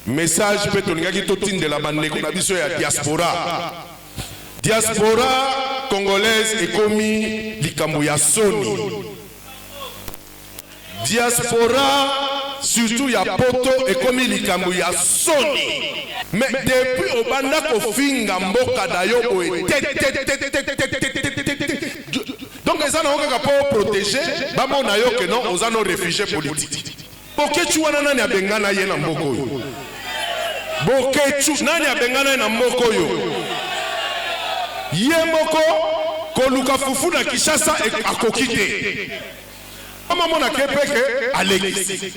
Message pe tolingaki totindela ba ndeko na biso ya diaspora. Diaspora congolaise ekomi likambo ya soni. Diaspora surtout ya poto ekomi likambo ya soni. Mais depuis obanda kofinga mboka na yo boye te te te te te te te te te te te donc eza na yo kaka po proteger bamona yo que non oza no refugie politique. Boketshu wana nani abengana ye na mboka oyo? Boketshu nani abengana ye na mboka oyo? Ye moko koluka fufu na Kinshasa akoki te. Mama mona kepeke alekisi.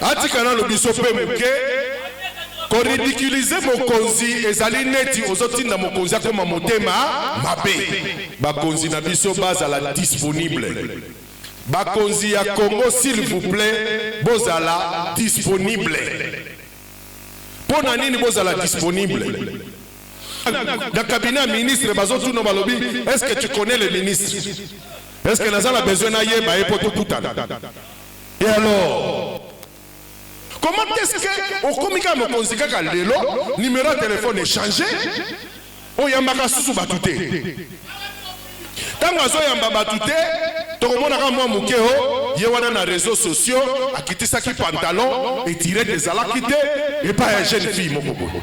Atika nano biso pe moke ko ridiculiser mokonzi ezali neti ozotinda mokonzi akoma motema mabe. Bakonzi na biso bazala disponible. Bakonzi ya Congo s'il vous plait bozala disponible pona nini bozala disponible na cabinet ya ministre bazo tuna balobi est ce que tu connais le ministre est ce que naza na besoin nayeba ye po tokutana et alors Comment est ce que okomi kaka mokonzi kaka lelo numero ya telephone echange oyambaka susu batu te ntango azoyamba batu te tokomona kaka mwa moke o oh, ye wana na réseau sociaux akitisaki pantalon etirete ezalaki te epai ya jeune fille moko boye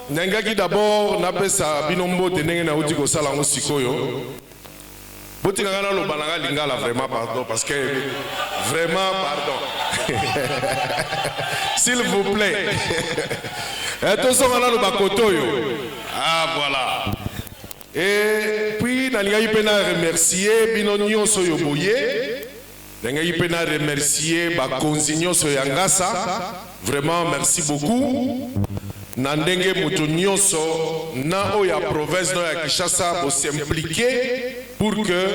Nalingaki d'abord napesa bino mbote ndenge nawuti kosala yango sikoyo. Botika ngai naloba na ngai lingala vraiment pardon parce que vraiment pardon s'il vous plait eh, tozonga nano bakoto oyo ah voilà et puis nalingaki mpe na remercier bino nyonso oyo boye Nalingaki pe na remercier ba konzi nionso ya ngasa vraiment merci beaucoup na ndenge mutu nionso na oyo ya province na oyo ya Kinshasa bo s'impliquer pour que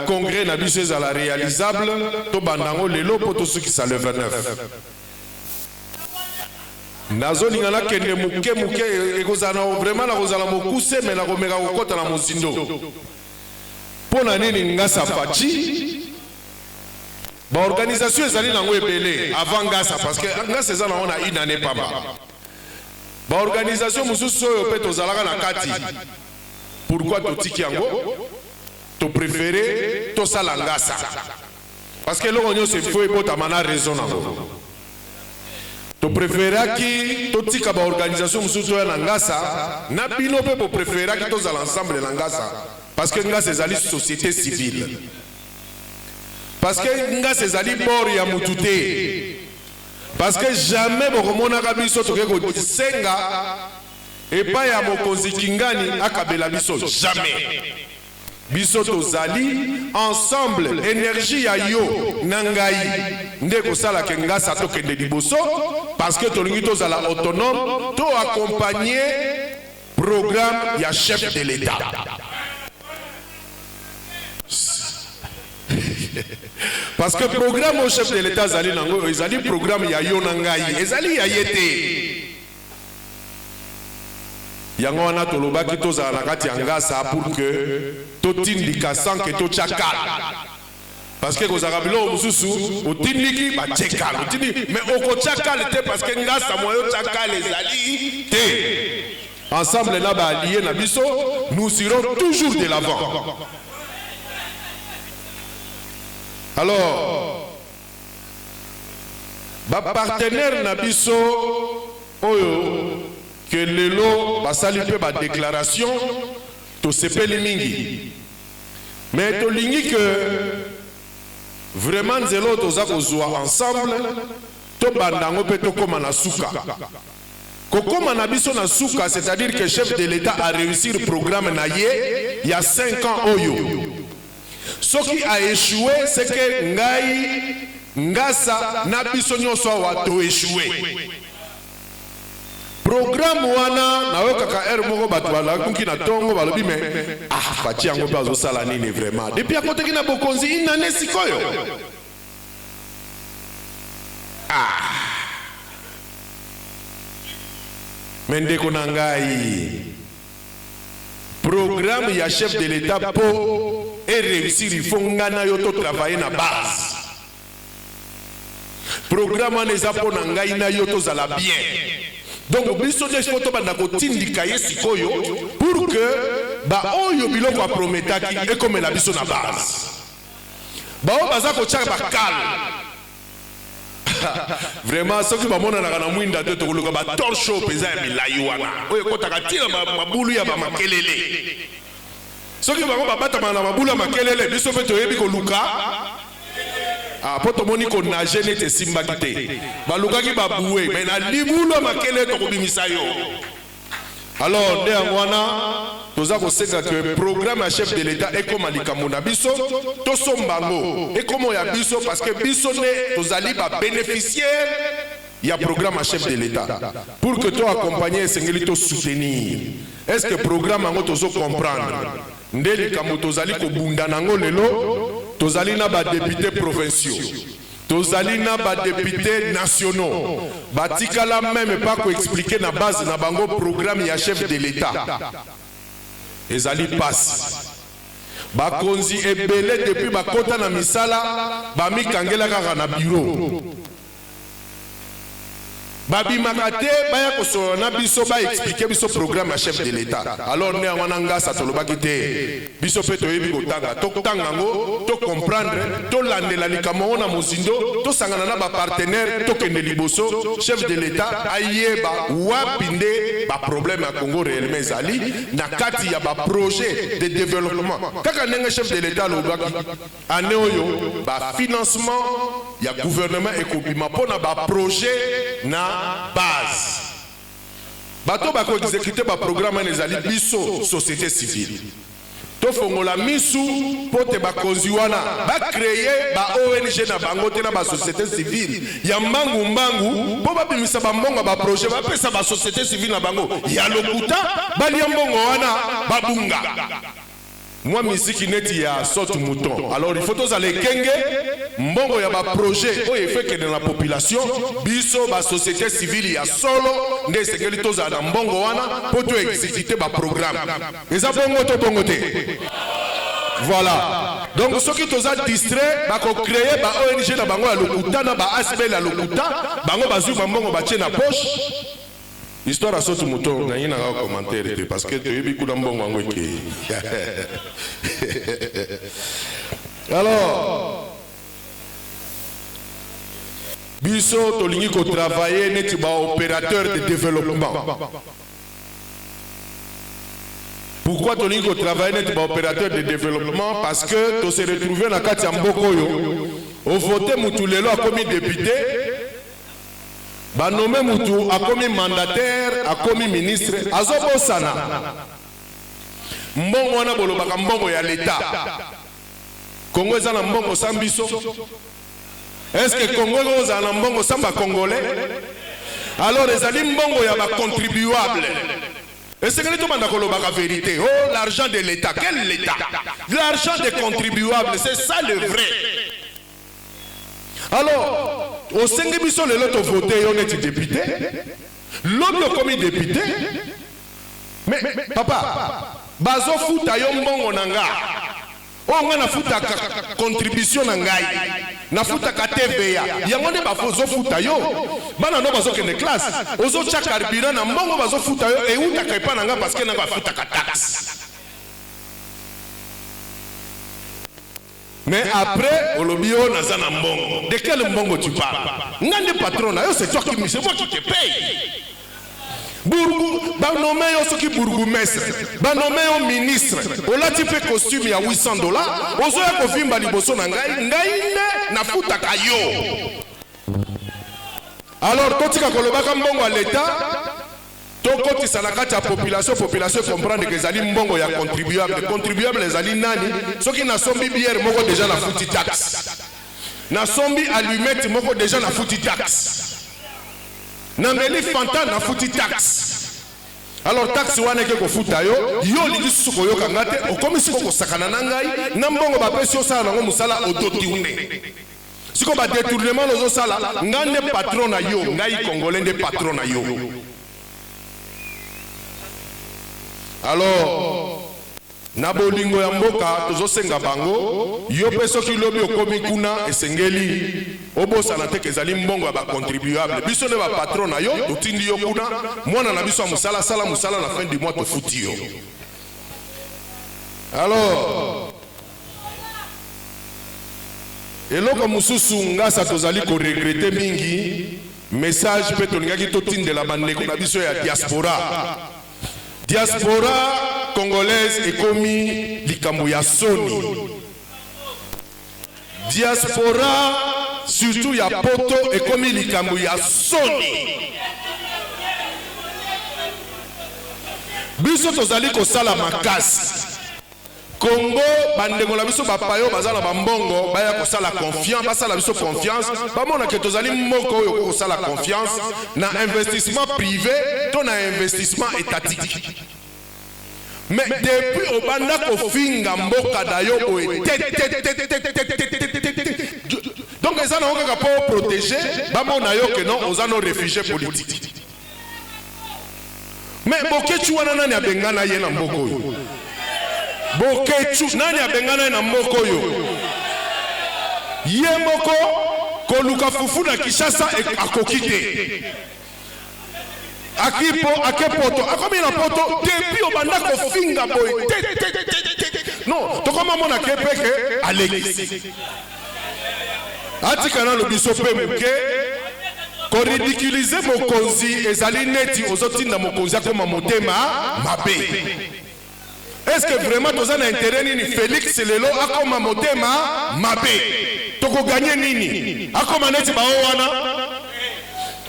congrès na biso ezala realisable to banda yango lelo po to sukisa le 29. Nazo linga na kende muke muke eko zala vraiment nako zala mokuse mais nako meka ko kota na mozindo. pona nini ngasa fatshi ba organisation ezali na ngo ebele avant ngasa parce que ngasa eza na ngo na une annee pamba ba organisation mususu oyo pe tozalaka na kati pourquoi totiki yango to prefere tosala ngasa parce que eloko nionso il faut ebotama na raison na ngo to preferaki totika ba organisation mosusu toya na ngasa na bino mpe bo preferaki tozala ensemble na ngasa parce que ngasa ezali société civile parce que ngasa ezali bord ya mutu te parce que jamais bokomonaka biso toke kosenga epai ya mokonzi kingani akabela biso jamais Biso tozali ensemble energie ya yo na ngai nde ekosala ke ngasa tokende liboso parce que tolingi tozala autonome to accompagne programme ya chef de l'etat parce que programme au chef de l'etat azali nango ezali programme ya yo na ngai ezali ya ye te Yango wana tolobaki tozala na kati ya ngasa pour que totindika sans que totia cal. Parce que ekozalaka biloko mosusu otindiki batie cal, otindiki mais okotia cal te parce que ngasa moyen otia cal ezali te. Ensemble na ba allies na biso, nous irons toujours de l'avant. Alors, Ba partenaires na biso oyo que lelo basali mpe ba declarations, tosepeli mingi. Mais tolingi que vraiment nzela oyo toza kozua ensemble, tobanda yango mpe tokoma na suka. Kokoma na biso na suka, c'est-à-dire que Chef de l'Etat a reussir programme na ye ya cinq ans oyo. Soki a echoue ce que ngai, ngasa na biso nionso awa to echoue. Programme wana nayokaka heure moko batu balamuki na tongo balobi mais ah Fatshi yango pe azosala nini vraiment depuis akotaki na bokonzi une annee sikoyo ah mais ndeko na ngai Programme ya chef de l'etat po e reussir il faut nga na yo to travailler na base. Programme wana eza po na ngai na yo tozala bien. Donc biso nde il faut tobanda kotindika ye sikoyo pour que ba oyo biloko aprometaki ekomela biso na base. Baoyo baza kotia bakala vraiment soki bamonanaka na mwinda te tokoluka ba torche oyo mpenza ya milai wana oyo ekotaka ti na mabulu ya bamakelele soki bango babatamaka na mabulu ya makelele biso mpe toyebi koluka ah, mpo tomoni konage neti esimbaki te balukaki babue mai na libulu ya makelele tokobimisa yo Alors nde yango wana toza kosenga que programme ya chef de l'etat ekoma likambo na biso tosomba yango ekoma ya biso parce que biso nde tozali ba beneficiaire ya programme ya chef de l'etat pour que to accompagner esengeli to soutenir est ce que programme yango tozo comprendre nde likambo tozali kobunda na yango lelo tozali na badepute provinciaux Tozali na ba deputes nationaux batikala meme pas ko expliquer na base na bango programme ya chef de l'Etat. Ezali pasi. Bakonzi ebele depuis bakota na misala bamikangela kaka na bureau. ba bimaka te baya ko solola na biso ba expliquer biso programme ya chef de l'etat alors nde yango wana ngasa tolobaki te biso pe toyebi ko tanga to tanga yango to comprendre to landela likambo yango na mozindo to sangana na ba partenaires to kende liboso chef de l'etat ayeba wapi nde ba problème ya Congo reellement ezali na kati ya ba projet de developpement kaka ndenge chef de l'etat alobaki Annee oyo, ba financements ya gouvernement ekobima mpo na ba projets na base. Bato oyo bako executer ba programmes wana ezali biso, societe civile. Tofongola miso mpo te bakonzi wana ba creer ba ong na bango te na ba societes civiles ya mbangu mbangu mpo babimisa ba mbongo ya ba projets bapesa ba societes civiles na bango ya lokuta, balya mbongo wana, babunga. mwa miziki neti ya sort mouton alors il faut tozala ekenge mbongo ya ba projet oyo efo ekende na population biso ba societe civile ya solo nde esengeli tozala na mbongo wana mpo to execute ba programme eza bongo to bongo te voilà donc soki toza distrait bakocreye ba ong na bango ya lokuta na ba asbl ya lokuta bango bazwi bambongo batie na poche Histoire ya sotu moto okangi na nga commentaire te parce que toyebi kuna mbongo yango ekeyi alors biso tolingi kotravaille neti baopérateur de développement pourquoi tolingi kotravaille neti baopérateur de développement parce que tose retrouve na kati ya mboka oyo ovote motu lelo akomi depute ba nomme mutu akomi mandataire akomi ministre azo bosana mbongo wana bolobaka mbongo ya l'etat congo eza na mbongo sans biso est ce que congo ekozala na mbongo sans ba congolais alors ezali mbongo ya ba contribuable esengeli tobanda kolobaka verité oh l'argent de l'etat quel l'etat l'argent des contribuables c'est ça le vrai Alors, osengi biso lelo to voter yo neti depute, lobi okomi depute, mais papa bazo futa yo mbongo na nga oyo nga na futaka contribution na ngai na futaka TVA yango nde bazo futa yo bana no bazo kende classe ozo tya carburant na mbongo bazo futa yo ewutaka epa na nga parce que na nga afutaka taxe Mais après olobi oh naza na mbongo de quel mbongo tu parle nga nde patron nayo c'est toi qui c'est moi qui te paye Bourgou, ba nomme yo soki bourgoumestre ba nomme yo ministre olati mpe costume ya 800 dollars ozoya kovimba liboso na ngai ngai nde nafutaka yo alors totika kolobaka mbongo ya leta To kotisa na kati ya population, population e comprendre que ezali mbongo ya contribuable. Contribuable ezali nani? Soki na sombi bière moko dejà na futi taxe. Na sombi allumette moko dejà na futi taxe. Na meli Fanta na futi taxe. Alors taxe wana eke kofuta yo, yo olingi susu koyoka nga te, okomi siko kosakana na ngai, na mbongo bapesi yo osala nango musala oto tourner. Siko ba detournement ozo sala nga nde patron na yo ngai congolais nde patron na yo alors na bolingo ya mboka tozosenga bango yo mpe soki lobi okomi kuna esengeli obosana te kezali mbongo ya bacontribuable biso nde bapatron na yo totindi yo kuna mwana na biso ya mosala asala mosala na fin du mois tofuti yo alors Eloko mususu ngasa tozali ko regrette mingi message pe tolingaki totindela ba ndeko na biso ya diaspora. Diaspora congolaise ekomi likambo ya soni. Diaspora surtout ya poto ekomi likambo ya soni. Biso tozali kosala makasi. Congo ba ndeko na biso ba payo baza na ba mbongo baya kosala confiance basala biso confiance bamona ke tozali mboka oyo okoki kosala confiance na investissement privé to na investissement étatique mais depuis obanda kofinga mboka na yo boye donc eza nango kaka mpo oprotege bamona yo ke non oza no réfugié politique Mais Boketshu wana nani abengana ye na mboka oyo? Boketshu nani abengana ye na mboka oyo? Ye moko koluka fufu na Kinshasa akoki te. Aki po ake poto, akomi na poto depuis obanda kofinga boye te te te te. Non, tokoma mona ke pe ke alekisi. Atika nanu biso pe muke. Ko ridiculiser mokonzi ezali neti ozo tinda mokonzi akoma motema mabe. Est ce que vraiment toza na interet nini Felix lelo akoma motema mabe? Toko gagner nini? Akoma neti bao wana?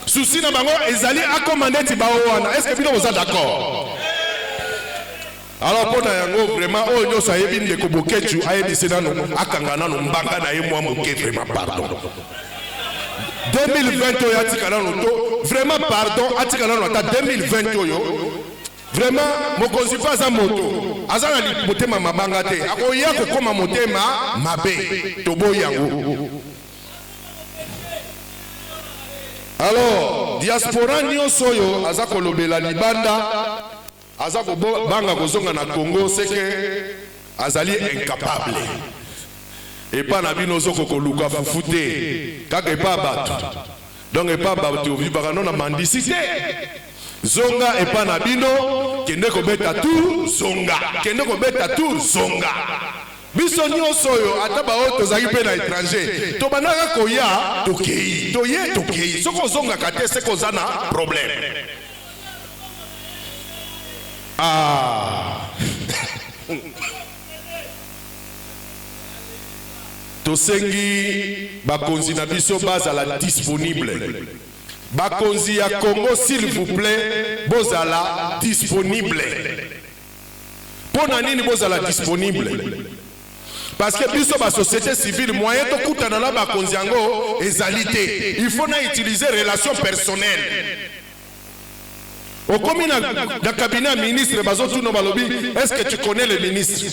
Souci na bango ezali akoma neti bao wana. Est ce que bino boza d'accord? Alors pona yango vraiment oyo nyoso ayebi ndeko Boketshu ayebisi nano akanga nano mbanga na ye mwa moke vraiment pardon. 2020 oyo atika nano to vraiment pardon atika nano ata 2020 oyo vraiment mokonzi mpe aza moto aza na motema mabanga te akoya kokoma motema mabe toboyi yango alors diaspora nyonso oyo aza kolobela libanda Aza ko banga ko zonga na Congo ce que azali incapable. Epa na bino ozo ko luka fufu te kaka epa ya batu donc epa ya batu ovivaka no na mendicite. Zonga epa na bino kende ko beta tour zonga kende ko beta tour zonga. Biso nionso oyo ata ba oyo tozali pe na etranger to bandaka koya tokeyi toye tokeyi soki ozongaka te ce que oza na probleme. Ah! Tosengi bakonzi na biso bazala disponible. Bakonzi ya Congo s'il vous plait bozala disponible. Mpo na nini bozala disponible? Parce que biso ba société civile moyen tokutana na bakonzi yango ezali te. Il faut na utiliser relation personnelle. okomi na, na cabinet ya ministre bazotuna balobi est ce que tu connais le ministre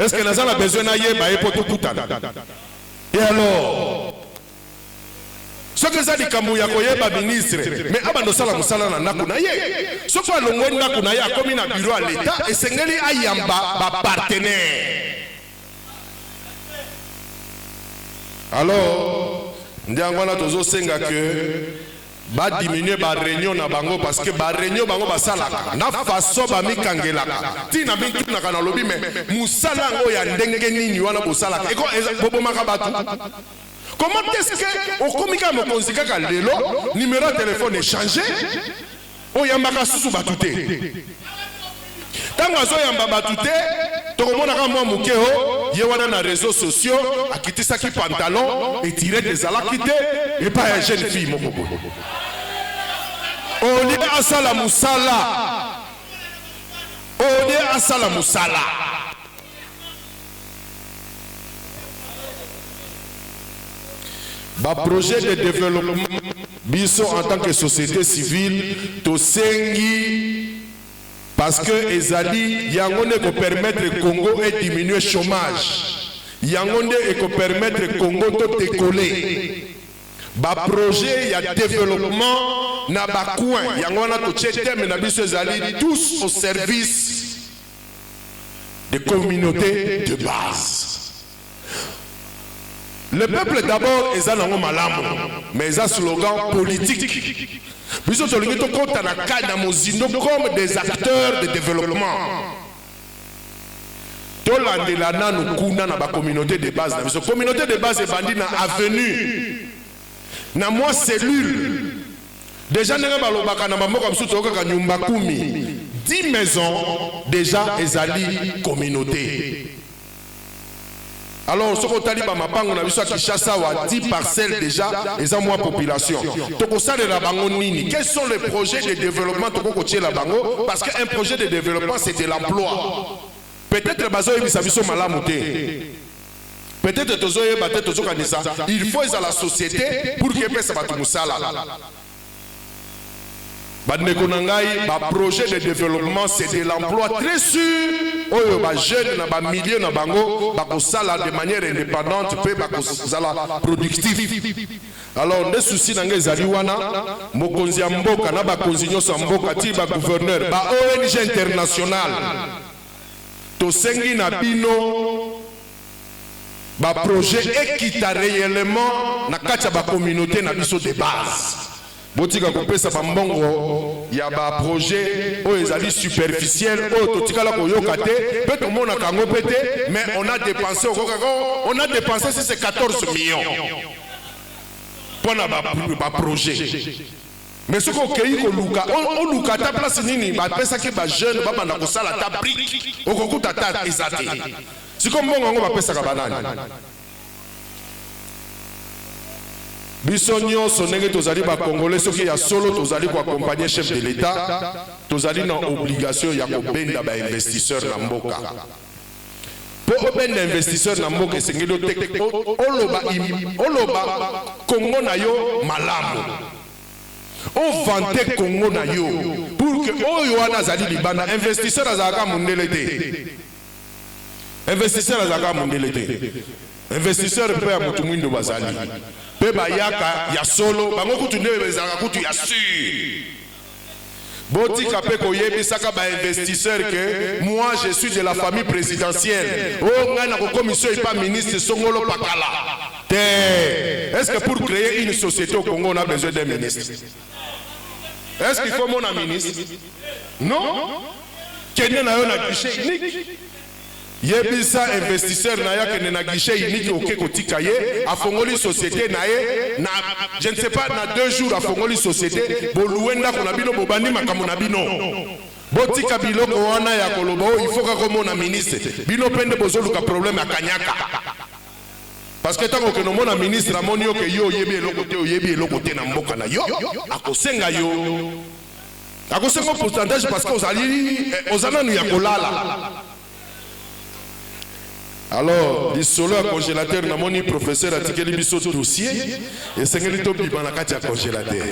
est ce que naza na besoin nayeba ye mpo tokutana e alors soki eza likambo ya koyeba ministre me abanda osala mosala na ndako na ye soki alongwe ndako na ye akomi na biro ya leta esengeli ayamba bapartenere alors nde yango wana tozosenga ke Ba diminuer ba reunion na bango parce que ba reunion bango basalaka na façon bamikangelaka ti na mitunaka nalobi mais musala yango ya ndenge nini wana bosalaka eko bobomaka batu comment est ce que okomi kaka mokonzi kaka lelo numero ya telephone echange Oyambaka lisusu bato te? Tango azo yamba bato te, toko mona kaka mwa moke o ye wana na reseaux sociaux akitisaki pantalon, etirette ezalaki te epai ya jeune fille moko boye. Au lieu asala mosala, au lieu asala mosala. Ba projets de developpement biso en tant que societe civile tosengi parce que ezali yango nde eko permettre Congo e diminuer chomage, yango nde eko permettre Congo to decoller. Ba projets ya developpement na ba coins yango wana totie thème na biso ezali tous au service des communautes de base. Le peuple d'abord eza nango malamu mais eza slogan politique. Biso tolingi tokota na kani na mozindo comme des acteurs de développement. Tolandela nanu kuna na ba communautes de base na biso. Communaute de base ebandi na avenue na mwa cellule dejà ndenge balobaka na ba mboka mosusu toyokaka nyumba kumi, dix maisons dejà ezali communaute. Alors soki otali ba mapango na biso ya Kinshasa awa dix parcelles dejà eza mwa population tokosalela bango nini? Quels sont les projets de developpement tokoki kotiela bango parce que un projet de developpement c'est de l'emploi peut-etre bazoyebisa biso malamu te. Peut-etre tozo yeba te tozo kanisa il faut ezala societe pour que epesa batu musala. Ba ndeko na ngai ba projets de developpement c'est de l'emploi très sur oyo ba jeunes na ba milieu na bango bako sala de manière independante pe bako zala productif. Alors nde souci na ngai ezali wana mokonzi ya mboka na bakonzi nionso ya mboka ti ba gouverneur ba ONG internationale tosengi na bino ba projets ekita reellement na kati ya ba communautes na biso de base. Botika kopesa ba mbongo ya ba projets oyo ezali superficiels, oyo totikala koyoka te mpe tomonaka yango mpe te, mais on a depense, okokaka oh on a depense si c'est 14 millions mpo na ba projets. Mais soki okeyi koluka, oluka ata place nini bapesaki ba jeunes babanda kosala ata brique, okokuta ata eza te. Sikoyo mbongo yango bapesaka ba nani? Biso nionso ndenge tozali ba congolais, soki ya solo tozali ko accompagner chef de l'Etat, tozali na obligation ya kobenda ba investisseurs na mboka. Po obenda investisseur na mboka esengeli oteka oloba oloba Congo na yo malamu o vante Congo na yo pour que oyo wana azali libanda investisseur azalaka mundele te investisseur azalaka mundele te investisseur pe ya mutu muindu bazali pe bayaka ya solo bango kutu nde ezalaka kutu ya sur Botika pe koyebisaka ba investisseurs que moi je suis de la famille presidentielle oh ngai nakokomisa yo epa ministre songolo pakala te est ce que pour creer une societe au Congo on a besoin d'un ministre est ce qu'il faut mona ministre non kende na yo na guichet unique Yebisa investisseur nayo akende na guichet unique oke kotika ye afongoli societe naye na je ne sais pas na deux jours afongoli societe bo loue ndaku na bino bobandi makambo na bino botika biloko wana ya koloba oh il faut kaka omona ministre bino pe nde bozoluka problème ya kanyaka parce que tango okende omona ministre amoni yo ke yo oyebi eloko te oyebi eloko te na mboka nayo akosenga yo Nakosenga yo pourcentage parce que ozali eh, oza nanu ya kolala. Alors, lisolo ya congélateur namoni professeur atikeli biso dossier esengeli tobima na kati ya congélateur.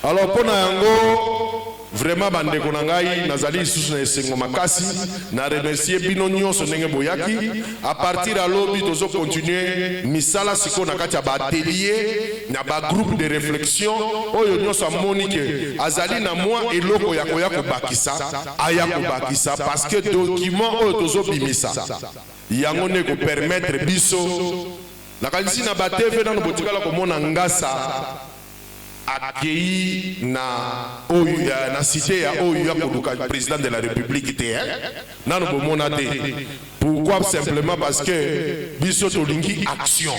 Alors mpo na yango vraiment bandeko na ngai nazali lisusu na esengo makasi na remercie bino nyonso ndenge boyaki A partir ya lobi tozo continuer misala sikoyo na kati ya ba ateliers na ba groupes de reflexion, oyo nionso amoni que azali na mua eloko ya koya kobakisa aya kobakisa parce que document oyo tozo bimisa yango nde eko permettre biso, nakanisi na ba TV nanu botikala komona ngasa. Akeyi na oyo ya na site ya oyo y'a koluka president de la republique te hein nanu bomona te pourquoi simplement parce que biso tolingi action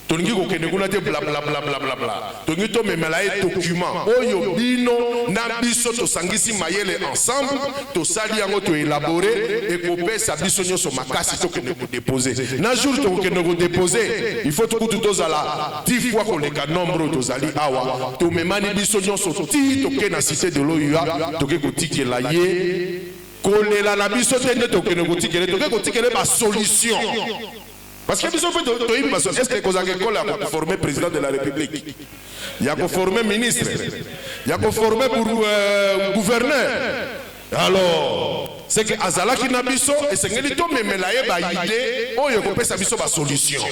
tolingi kokende kuna te blablablablabla tolingi tomemela ye document oyo bino na biso tosangisi mayele ensemble tosali yango to elabore ekopesa biso nionso makasi tokende ko deposer na jour tokokende ko deposer il faut kutu tozala Dix fois koleka nombre oyo tozali awa, tomemani biso nyonso tii toke na cite de l'OUA, toke kotikela ye kolela na biso te nde tokende kotikela ye, toke kotikela ye ba solution parce que biso mpe toyebi baso est ce que ekozalaka ekole ya koforme président de la république ya koforme ministre ya koforme gouverneur Alors, ce que azalaki na biso, esengeli tomemela ye ba idees oyo ekopesa biso ba solutions.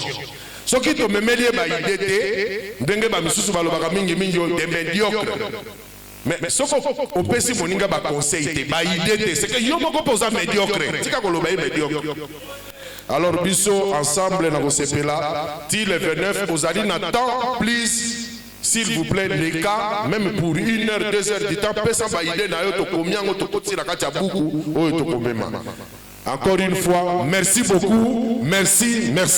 Soki tomemeli ye ba idees te, ndenge ba misusu balobaka mingi mingi oyo, des mediocres. Mais soki opesi moninga ba conseils te, ba idees te, ce que yo moko pe oza mediocre, tika koloba ye mediocre. Alors biso ensemble, nakosepela ti le 29, ozali na temps please. S'il vous plait leka meme pour une heure deux heures du temps pesa ba idee na yo tokomi yango tokotisi na kati ya buku oyo tokomema encore une fois merci beaucoup merci merci.